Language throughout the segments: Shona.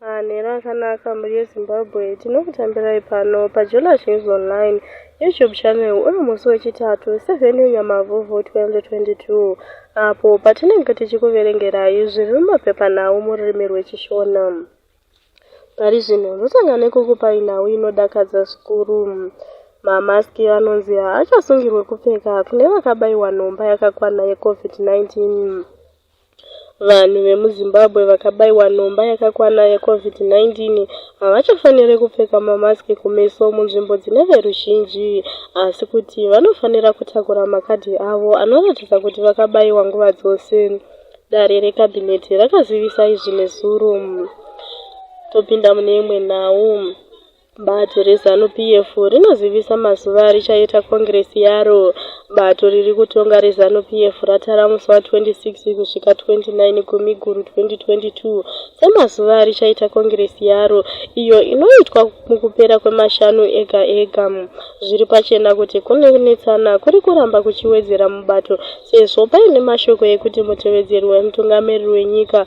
Manhero akanaka mhuri yeZimbabwe, tinokutambirai pano paJola News Online YouTube channel uri musi wechitatu 7 Nyamavhuvhu 2022 apo patinenge tichikuverengerai zviri mumapepanhau mururimi rweChishona. Pari zvino ndotanga nekukupai nhau inodakadza zvikuru. Mamaski anonzi haachasungirwe kupfeka kune vakabayiwa nhomba yakakwana yeCovid-19. Vanhu vemuZimbabwe vakabaiwa nhomba yakakwana yeCovid-19 havachafanire kupfeka mamask kumeso munzvimbo dzine veruzhinji asi kuti vanofanira kutakura makadhi avo anoratidza kuti vakabaiwa nguva dzose, dare rekabhineti rakazivisa izvi nezuro. Topinda mune imwe nhau. Bato reZanu PF rinozivisa mazuva arichaita kongiresi yaro. Bato riri kutonga reZanu PF ratara musi wa 26 kusvika 29 Gumiguru 2022 semazuva arichaita kongiresi yaro iyo inoitwa mukupera kwemashanu ega ega. Zviri pachena kuti kunetsana kuri kuramba kuchiwedzera mubato sezvo paine mashoko ekuti mutevedzeri wemutungamiriri wenyika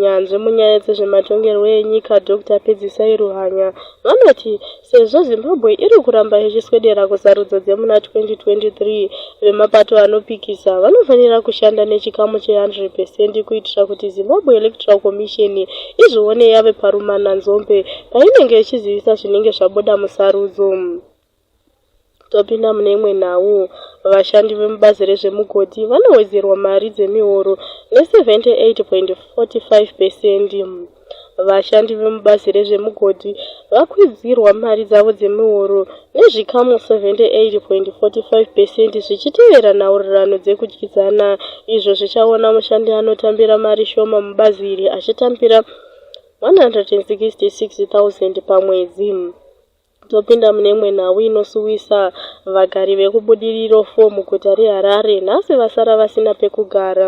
Nyanzvi munyaya dzezvematongerwo enyika Dr Pedzisai Ruhanya vanoti sezvo Zimbabwe iri kuramba ichiswedera kusarudzo dzemuna 2023, vemapato anopikisa vanofanira kushanda nechikamu che 100 percent kuitira kuti Zimbabwe Electoral Commission izvione yave parumananzombe painenge ichizivisa zvinenge zvabuda musarudzo. Topinda mune imwe nhau. Vashandi vemubazi rezvemugodhi vanowedzerwa mari dzemihoro ne 78.45 pesendi. Vashandi vemubazi rezvemugodhi vakwidzirwa mari dzavo dzemihoro nezvikamu 78.45 pesendi zvichitevera nhaurirano dzekudyidzana izvo zvichaona mushandi anotambira mari shoma mubazi iri achitambira 166,000 pamwedzi. Topinda mune imwe nhau inosuwisa. Vagari vekuBudiriro 4 muguta reHarare nhasi vasara vasina pekugara.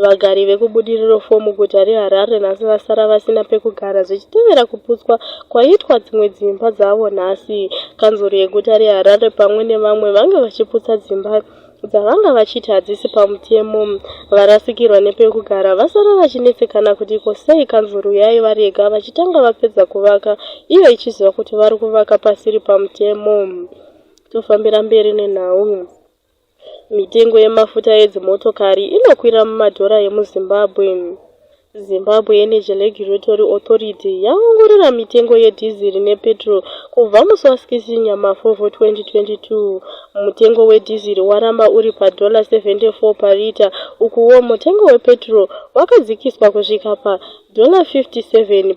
Vagari vekuBudiriro 4 muguta reHarare nhasi vasara vasina pekugara zvichitevera kuputswa kwaitwa dzimwe dzimba dzavo nhasi. Kanzuru yeguta reHarare pamwe nevamwe vange vachiputsa dzimba dzavanga vachiti hadzisi pamutemo varasikirwa nepekugara vasara vachinetsekana kuti ko sei kanzuru yaivarega vachitanga vapedza kuvaka iyo ichiziva kuti vari kuvaka pasiri pamutemo tofambira mberi nenhau mitengo yemafuta edzimotokari inokwira mumadhora emuzimbabwe Zimbabwe Energy Regulatory Authority yaongorora mitengo yedhiziri nepetrol kubva musi wa 6 Nyamafovho 2022. Mutengo wedhiziri waramba uri padhola 74 parita ukuwo mutengo wepetrol wakadzikiswa kusvika padhola 57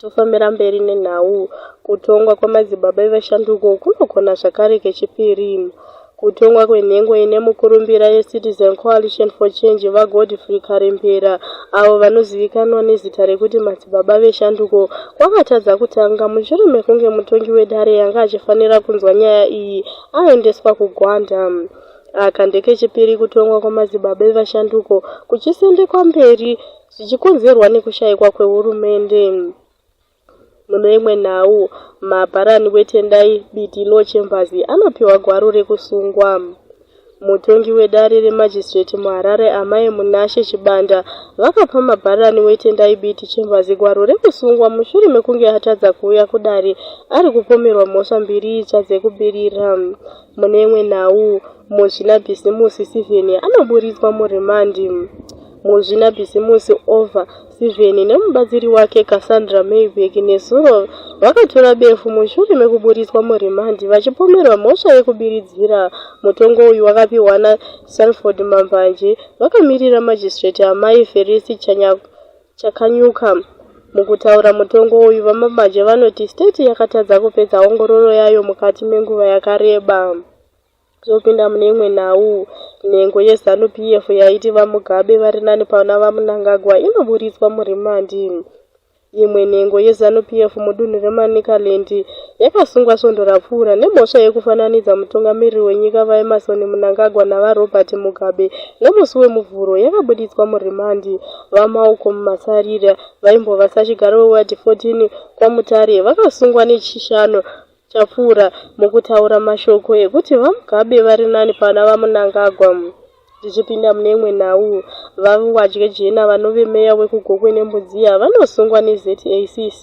Tofambira mberi nenhau. Kutongwa kwamadzibaba evashanduko kunogona zvakare kechipiri. Kutongwa kwenhengo ine mukurumbira yeCitizen Coalition for Change VaGodfrey Karembera, avo vanozivikanwa nezita rekuti Madzibaba Veshanduko, kwakatadza kutanga mushure mekunge mutongi wedare anga achifanira kunzwa nyaya iyi aendeswa kuGwanda. Aka ndekechipiri kutongwa kwamadzibaba evashanduko kuchisendekwa mberi zvichikonzerwa nekushaikwa kwehurumende. Mune imwe nhau, mabharani weTendai Biti Law Chambers anopiwa gwaro rekusungwa. Mutongi wedare remajistireti muHarare Amai Munashe Chibanda vakapa mabharani weTendai Biti Chambers gwaro rekusungwa mushure mekunge atadza kuuya kudare ari kupomerwa mhosva mbiri itsva dzekubirira. Mune imwe nhau, Muzvinabhisimusi Stephen anoburitswa murimandi. Muzvinabhizimusi Olva Sivheni nemubatsiri wake Cassandra Mayberg nezuro vakatura befu mushure mekuburitswa murimandi vachipomerwa mhosva yekubiridzira. Mutongo uyu wakapihwa naSalford Mambanje vakamirira magistrate Amai Ferisi Chakanyuka. Mukutaura mutongo uyu, VaMambanje vanoti state yakatadza kupedza ongororo yayo mukati menguva yakareba. Tinopinda mune imwe nhau. Nhengo yeZanu PF yaiti VaMugabe vari nani pana VaMnangagwa inoburitswa murimandi. Imwe nhengo yeZanu PF mudunhu reManicaland yakasungwa svondo rapfuura nemhosva yekufananidza mutungamiriri wenyika VaEmmerson Mnangagwa naVaRobert Mugabe nemusi weMuvhuro yakabuditswa murimandi. VaMalcom Masarira vaimbova sachigaro weWard 14 kwaMutare vakasungwa neChishanu chapfuura mukutaura mashoko ekuti VaMugabe vari nani pana VaMnangagwa. Tichipinda mune imwe nhau, VaViwadye Jena vanove meya wekuGokwe neMbudziya vanosungwa neZACC.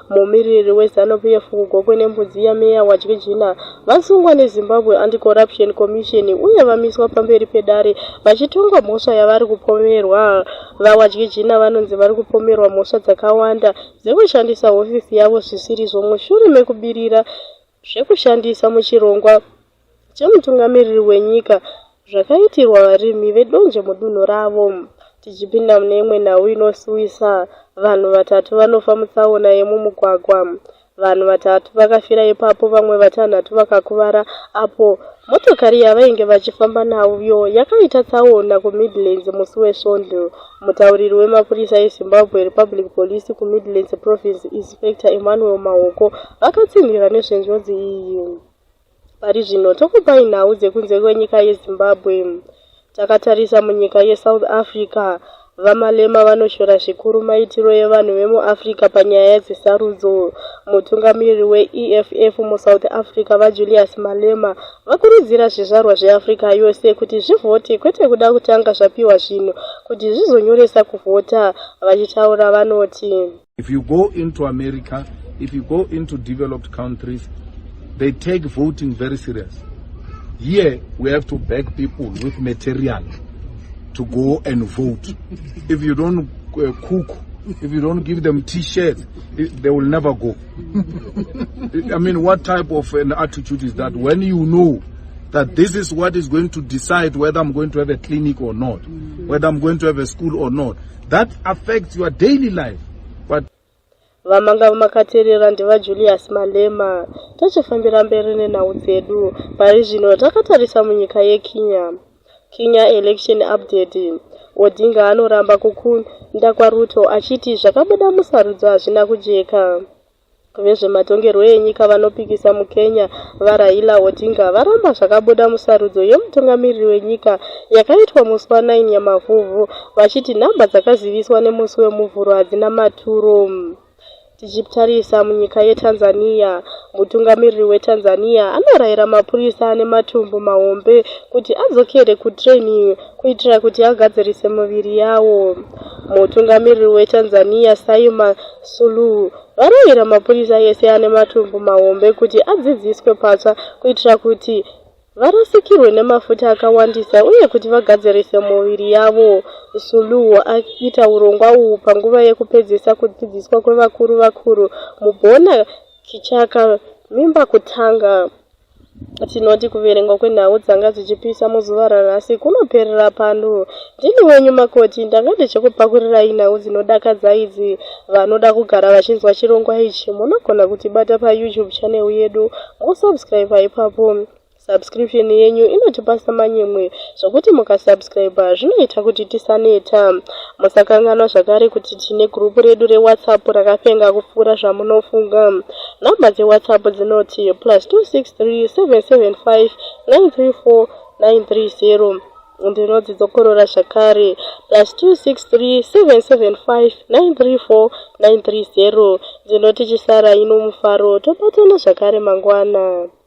Mumiriri weZanu PF kuGokwe neMbudziya, Meya Wadye Jena, vasungwa neZimbabwe Anti-Corruption Commission uye vamiswa pamberi pedare vachitongwa mhosva yavari kupomerwa. VaWadye Jena vanonzi vari kupomerwa mhosva dzakawanda dzekushandisa hofisi yavo zvisirizvo mushure mekubirira zvekushandisa muchirongwa chemutungamiriri wenyika zvakaitirwa varimi vedonje mudunhu ravo tichipinda mune imwe nhau inosuwisa vanhu vatatu vanofa mutsaona yemumugwagwa vanhu vatatu vakafira ipapo vamwe vatanhatu vakakuvara apo motokari yavainge vachifamba nayo yakaita tsaona kumidlands musi wesvondo Mutauriri wemapurisa eZimbabwe Republic Police kuMidlands Province, Inspector Emmanuel Mahoko, vakatsinhira nezvenjodzi iyi. Pari zvino tokupai nhau dzekunze kwenyika yeZimbabwe. Takatarisa munyika yeSouth Africa, VaMalema vanoshora zvikuru maitiro evanhu vemuAfrica panyaya dzesarudzo. Mutungamiriri weEFF muSouth Africa, VaJulius Malema, Vakurudzira zvizvarwa zveAfrica yose kuti zvivhote kwete kuda kutanga zvapiwa zvinhu kuti zvizonyoresa kuvhota, vachitaura vanoti. If you go into America, if you go into developed countries, they take voting very serious. Here we have to beg people with material to go and vote. If you don't uh, cook, if you don't give them t-shirts, they will never go. I mean, what type of an attitude is that when you know that this is what is going to decide whether I'm going to have a clinic or not, whether I'm going to have a school or not. That affects your daily life. But vamanga makaterera ndivajulius malema tochifambira mberi nenhau dzedu pari zvino takatarisa munyika yekenya Kenya Election Update, Odinga anoramba kukunda kwaRuto achiti zvakabuda musarudzo hazvina kujeka. Vezvematongerwo enyika vanopikisa muKenya, VaRaila Odinga, varamba zvakabuda musarudzo yemutungamiriri wenyika yakaitwa musi wa 9 Nyamavhuvhu vachiti nhamba dzakaziviswa nemusi weMuvhuro hadzina maturo. Tichitarisa munyika yeTanzania, mutungamiriri weTanzania anorayira mapurisa ane matumbu mahombe kuti adzokere kutraining kuitira kuti agadzirise muviri yawo. Mutungamiriri weTanzania Saima Suluhu varayira mapurisa ese ane matumbu mahombe kuti adzidziswe patsva kuitira kuti varasikirwe nemafuta akawandisa uye kuti vagadzirise muviri yavo. Suluhu aita urongwa uhu panguva yekupedzisa kudzidziswa kwevakuru vakuru mubona Kichaka mimba kutanga. Tinoti kuverengwa kwenhau dzanga dzichipisa muzuva ranhasi kunoperera pano Ndini wenyu makoti ndanga ndichikupakurirai nhau dzinodakadza idzi vanoda kugara vachinzwa chirongwa ichi munogona kutibata payoutube channel yedu mosubscriber ipapo subscription yenyu inotipasa manyemwe zvokuti mukasubscriber zvinoita kuti tisaneta musakanganwa zvakare kuti tine gurupu redu rewhatsapp rakapenga kupfuura zvamunofunga nhamba dzewhatsapp dzinoti plus 263 775 934 930 ndinodzokorora zvakare plus 263775934930 ndinoti chisara ino mufaro tobatana zvakare mangwana